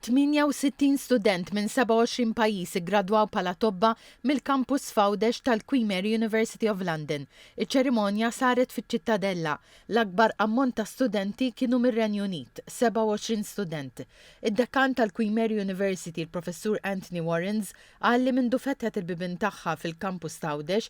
68 student minn 27 pajjiż iggradwaw bħala tobba mill-Kampus f'Għawdex tal-Queen Mary University of London. Iċ-ċerimonja saret fiċ-Ċittadella. L-akbar ammont ta' studenti kienu mir-Renju Unit, 27 student. Id-Dekan tal-Queen Mary University, il-Professur Anthony Warrens, qal li mindu fetħet il-bibien tagħha fil-Kampus t'Għawdex,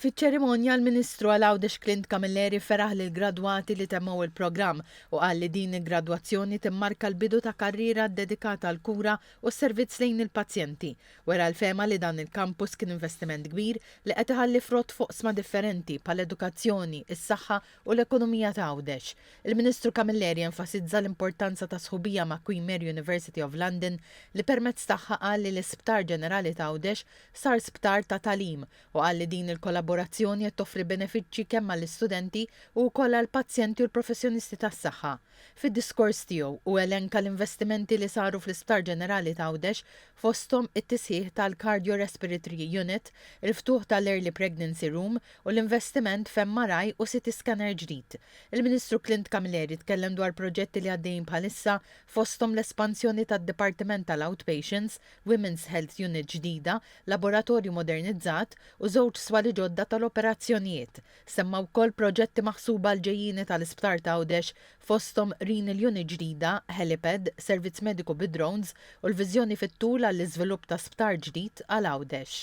Fiċ-ċerimonja, l-Ministru għal Għawdex Clint Camilleri feraħ lill-gradwati li temmew il-programm u qal li din il-gradwazzjoni timmarka l-bidu ta' karriera ddedikata għall-kura u s-servizz lejn il-pazjenti. Wera l-fehma li dan il-kampus kien investiment kbir li qed iħalli frott f'oqsma differenti bħall-edukazzjoni, is-saħħa u l-ekonomija ta' Għawdex. Il-Ministru Camilleri enfasizza l-importanza ta' sħubija ma' Queen Mary University of London li permezz tagħha qal li l-Isptar Ġenerali ta' Għawdex sar sptar ta' tagħlim u qal li din il-kollaborazzjoni qed toffri benefiċċji kemm għall-istudenti u wkoll għall-pazjenti u l-professjonisti tas-saħħa. Fid-diskors tiegħu, hu elenka l-investimenti li saru fl-Isptar Ġenerali t'Għawdex, fosthom it-tisħiħ tal-Cardio Respiritry Unit, il-ftuħ tal-Early Pregnancy Room u l-investiment f'MRI u CT Scanner ġdid. Il-Ministru Clint Camilleri tkellem dwar proġetti li għaddejjin bħalissa, fosthom l-espansjoni tad-Dipartiment tal-Outpatients, Women's Health Unit ġdida, laboratorju modernizzat u żewġ swali ġodda tal-operazzjonijiet. Semma wkoll proġetti maħsuba għall-ġejjieni tal-Isptar t'Għawdex, fosthom renal unit ġdida, helipad, servizz mediku bi drones u l-viżjoni fit-tul għall-iżvilupp ta' sptar ġdid għal Għawdex.